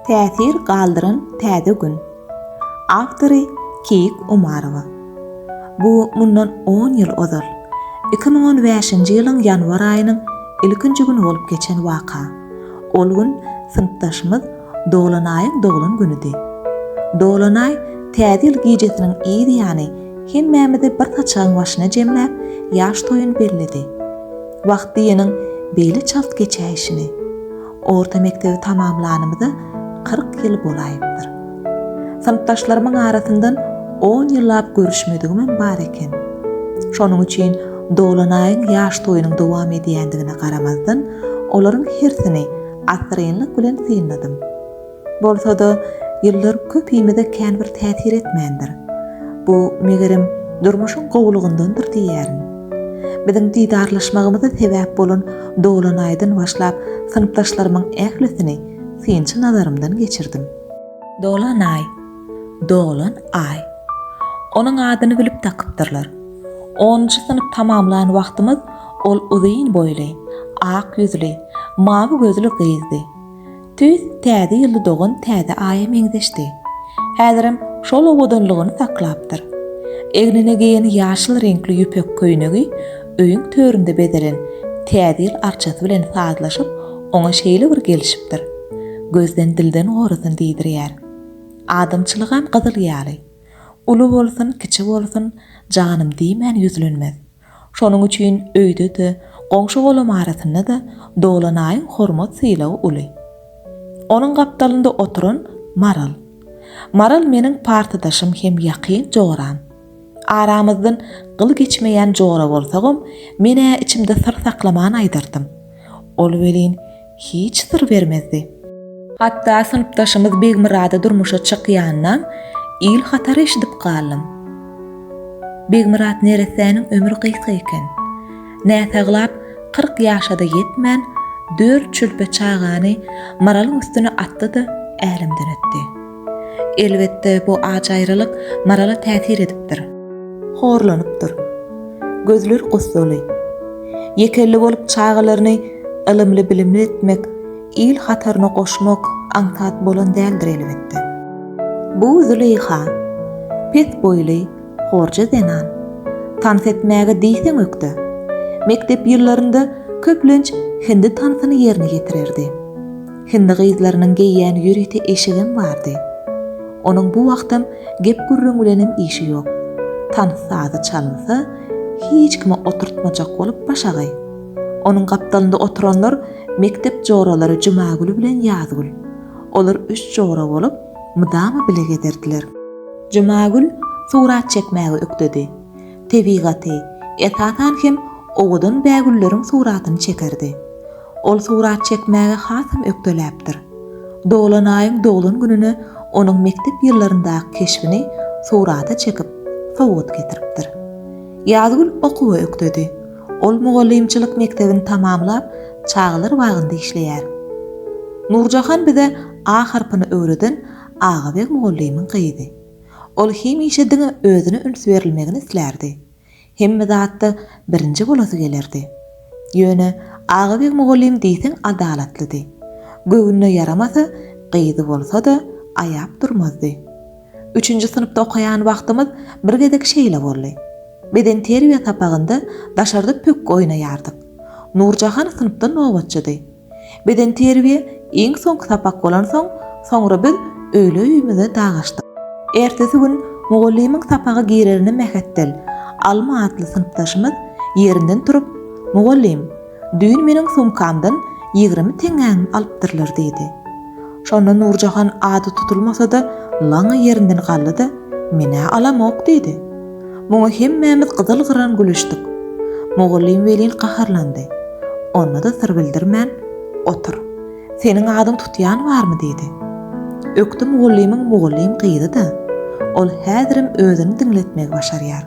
Täsir galdyran täze gün. Awtory Keýik Omarowa. Bu mundan on ýyl ozal, iki müň on bäşinji ýylyň ýanwar aýynyň ilkinji güni bolup geçen waka. Ol gün synpdaşymyz Dolanaýyň doglan günüdi. Dolanaý Täze ýyl gijesiniň yz ýany hemmämizi bir saçagyň başyna jemläp, ýaş toýuny belledi. Wagt diýeniň beýle çalt geçäýşini. Orta mekdebi tamamlanymyza kyrk ýyl bolaýypdyr. Synpdaşlarymyň arasyndan on ýyllap görüşmedigimem bar eken. Şonuň üçin Dolanaýyň ýaş toýunyň dowam edýändigine garamazdan, olaryň hersini assyrynlyk bilen synladym. Bolsa-da, ýyllar köpimize känbir täsir etmändir. Bu, megerem, durmuşyň gowulygyndandyr diýýärin. Biziň didarlaşmagymyza sebäp bolan dolanaýdan başlap synpdaşlarymyň ählisini synçy nazarymdan geçirdim. Dolanaý, dolan aý. Onuň adyny bilip dakypdyrlar. Onunjy synp tamamlan wagtymyz ol uzyn boýly, ak ýüzli, mawy gözli gyzdy. Tüýs Täze ýylda dogan täze aýa meňzeşdi. Häzirem şol owadanlygyny saklapdyr. Egnine geýen ýaşyl reňkli ýüpek köýnegi öýüň töründe bezelen Täze ýyl arçasy bilen sazlaşyp, oňa şeýle bir gelişipdir. Gözden dilden gorasyn diýdirýär. Adamçylygam gyzyl ýaly. Uly bolsun, kiçi bolsun, janym diýmän ýüzlenmez. Şonuň üçin öýde-de, goňşy-golam arasynda-da Dolanaýyň hormat-sylagy uly. Onuň gapdalynda oturan Maral. Maral meniň partadaşym hem ýakyn joram. Aramyzdan gyl geçmeýän jora bolsagam, men-ä içimde syr saklaman aýdardym. Ol welin, hiç syr bermezdi. Hatda synpdaşymyz Begmyrady durmuşa çykýanynam il hatary eşidip galdym. Begmyrat neressäniň ömri gysga eken. Näsaglap, kyrk ýaşa-da ýetmän, dört çülpe çagany Maralyň üstüne atdy-da, älemden ötdi. Elbetde, bu ajyralyk Marala täsir edipdir. Horlanypdyr. Gözleri gussaly. Ýekelli bolup çagalaryny ylymly-bilimli etmek, il hataryna goşmak aňsat bolan däldir, elbetde. Bu Züleýha, pes boýly, horja zenan. Tans etmäge diýseň ökde. Mekdep ýyllarynda köplenç hindi tansyny ýerine ýetirerdi. Hindi gyzlarynyň geýýän ýörite eşigem bardy. Onuň bu wagtam gep-gürrüň bilenem işi ýok. Tans sazy çalynsa, hiç kimi oturtmajak bolup başagaý. Onuň gapdalynda oturanlar mekdep joralary Jumagül bilen Ýazgül. Olar üç jora bolup, mydama bile gezerdiler. Jumagül surat çekmäge ökdedi. Tebigaty, esasan hem owadan bägülleriň suratyny çekerdi. Ol surat çekmäge hasam ökdeläpdir. Doglan aýyň doglan gününe onuň mekdep ýyllaryndaky keşbini surata çekip, sowgat getiripdir. Ýazgül okuwa ökdedi. Ol mugallymçylyk mekdebini tamamlap, çagalar bagynda işleýär. Nurjahan bize A harpyny öwreden Agabeg mugallymyň gyzy. Ol hemişe diňe özüne üns berilmegini islärdi. Hemme zatda birinji bolasy gelerdi. Ýöne Agabeg mugallym diýseň adalatlydy. Göwnüne ýaramasa, gyzy bolsa-da, aýap durmazdy. Üçünji synpda okaýan wagtymyz bir gezek şeýle boldy. Bedenterbiýe sapagynda daşarda pökgi oýnaýardyk. Nurjahan synpda nobatçydy. Bedenterbiýe iň soňky sapak bolansoň, soňra biz öýle öýümize dagaşdyk. Ertesi gün mugallymyň sapaga girerine mähetdel, Alma atly synpdaşymyz ýerinden turup, Mugallym, düýn meniň sumkamdan ýigrimi teňňäňim alypdyrlar diýdi. Şonda Nurjahan ady tutulmasa-da, laňňa ýerinden galdy-da, Men-ä alamok diýdi. Muňa hemmämiz gyzyl-gyran gülüşdik. Mugallym welin gaharlandy. Onda-da syr bildirmän, Otur. Seniň adyň tutýan barmy? diýdi. Ökde mugallymyň mugallym gyzy-da. Ol häzirem özüni diňletmegi başarýar.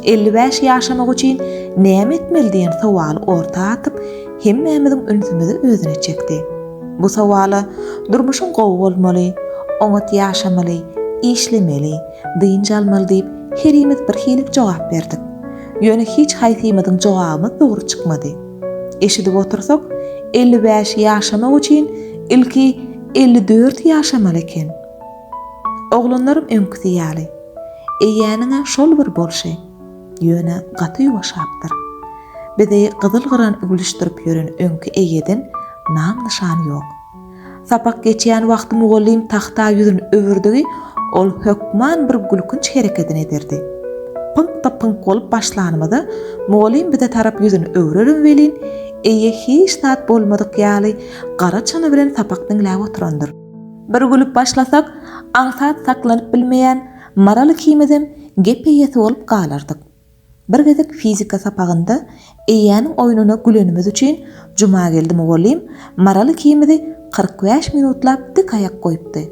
Elli bäş ýaşamak üçin näme etmeli diýen sowaly orta atyp, hemmämiziň ünsümizi özüne çekdi. Bu sowala durmuşyň gowy bolmaly, oňat ýaşamaly, işlemeli, dynç almaly diýip herimiz bir hilik jogap berdik. Ýöne hiç haýsymyzyň jogabymyz dogry çykmady. Eşidip otursak, elli bäş ýaşamak üçin ilki elli dört ýaşamaly eken. Oglanlarym öňküsi ýaly. Eýäniň-ä şol bir bolşy. ýöne gaty ýuwaşapdyr. Bizi gyzyl-gyran üwlüşdirip ýören öňki eýeden nam-nyşan ýok. Sapak geçýän wagty mugallym tagta ýüzin öwürdigi ol hökman bir gülkünç herekedini ederdi. Pyňkda-pyňk bolup başlanymyzda mugallym bize tarap ýüzin öwrerin welin, eýe hiç zat bolmadyk ýaly gara çyny bilen sapak diňläp oturandyr. Bir gülüp başlasak, aňsat saklanyp bilmeýän, Maral ikimizem gep eýesi bolup galardyk. Bir gezek fizika sapagynda eýäniň oýnuna gülenimiz üçin Jumageldi mugallym Maral ikimizi kyrk bäş minutlap dik aýak goýupdy.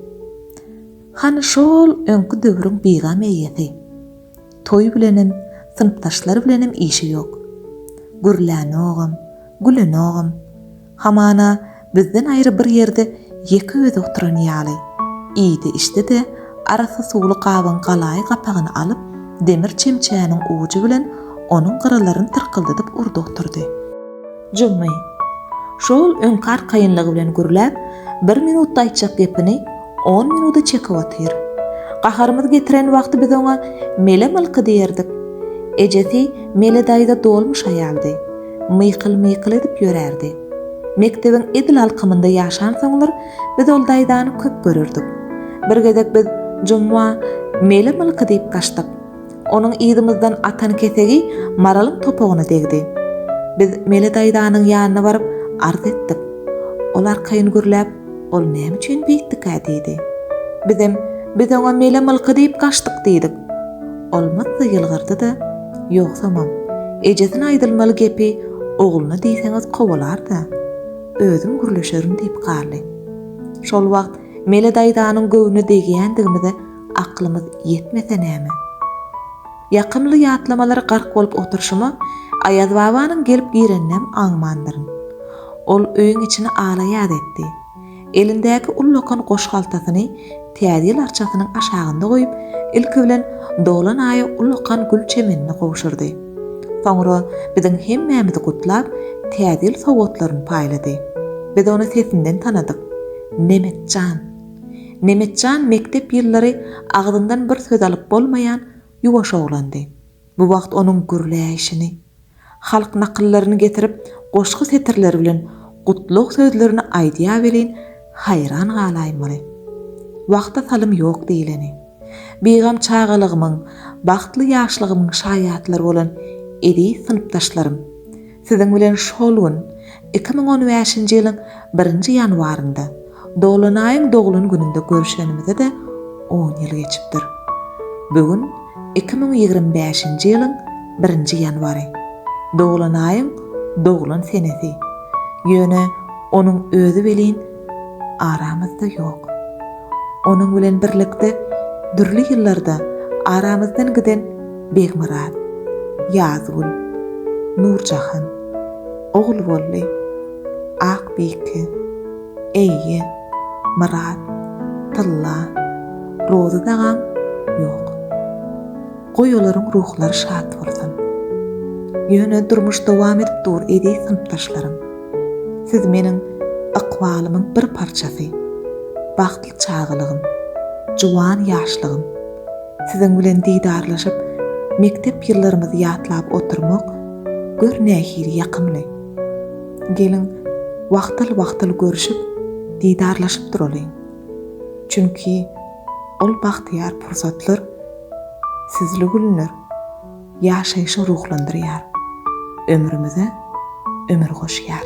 Hany şo-ol öňki döwrüň bigam eýesi. Toý bilenem, synpdaşlary bilenem işi ýok. Gürlänogam, gülenogam. Hamana, bizden aýry bir ýerde ýeke özi oturan ýaly, iýdi-içdi-de, arassa suwly gabyň galaýy gapagyny alyp, demir çemçäniň ujy bilen onuň gyrylaryny tyrkyldadyp urdy oturdy. Jummy, şo-ol öňki arkaýynlygy bilen gürläp, bir minutda aýtjak gepini On minuda çekip otyr. Gaharymyz getiren wagty biz oňa Mele mylky diýerdik. Ejesi Mele daýza dolmuş aýaldy. Mykyl-mykyl edip ýörärdi. Mekdebiň edil alkymynda ýaşansoňlar, biz ol daýzany köp görerdik. Bir gezek biz Jumma, Mele mylky diýip gaçdyk. Onuň yzymyzdan atan kesegi Maralyň topugyna degdi. Biz Mele daýzanyň ýanyna baryp, arz etdik. Ol arkaýyn gürläp, Ol näme üçin beýtdikä? diýdi. Bizem, Biz oňa Mele mylky diýip gaçdyk diýdik. Ol myddy ýylgyrdy-da, Ýogsamam, ejesine aýdylmaly gepi ogluna diýseňiz kowalar-da, özüm gürleşerin diýip galdy. Şol wagt Mele daýzanyň göwnüne degýändigimize aklymyz ýetmese näme? Ýakymly ýatlamalara gark bolup oturyşyma Aýazbabanyň gelip gireninem aňmandyryn. Ol öýüň içini ala-ýaz etdi. Elindäki ullakan goşhaltasyny Täze ýyl arçasynyň aşagynda goýup, ilki bilen dolan aýa ullakan gül çemenini gowşurdy. Soňra biziň hemmämizi gutlap, Täze ýyl sowgatlaryny paýlady. Biz ony sesinden tanadyk. Nemet jan! Nemetjan mekdep ýyllary agzyndan bir söz alyp bolmaýan ýuwaş oglandy. Bu wagt onuň gürläýşini, halk nakyllaryny getirip goşgy setirleri bilen gutlag sözlerini aýdýa welin, haýran galaýmaly. Wagta salym ýok diýleni. Bigam çagalygymyň, bagtly ýaşlygymyň şaýatlary bolan eziz synpdaşlarym! Siziň bilen şol gün, iki müň on bäşinji ýylyň birinji ýanwarynda, Dolanaýyň doglan gününde görşenimize-de on ýyl geçipdir. Bu gün iki müň ýigrimi bäşinji ýylyň birinji ýanwary. Dolanaýyň doglan senesi. Ýöne onuň özi welin aramyzda ýok. Onuň bilen birlikde dürli ýyllarda aramyzdan giden Begmyrat, Ýazgül, Nurjahan, Ogulbolly, Akbike, Eýe, Myrat, Tylla, Rozy dagam ýok. Goý olaryň ruhlary şat bolsun. Ýöne durmuş dowam edip dur eziz synpdaşlarym. Siz meniň ykbalymyň bir parçasy, bagtly çagalygym, juwan ýaşlygym. Siziň bilen didarlaşyp, mekdep ýyllarymyzy ýatlap oturmak, gör nähili ýakymly. Geliň, wagtal-wagtal görşüp, didarlaşyp duralyň. Çünki ol bagtyýar pursatlar sizli günler. Ýaşaýşy ruhlandyrýar. Ömrümize ömür goşýar.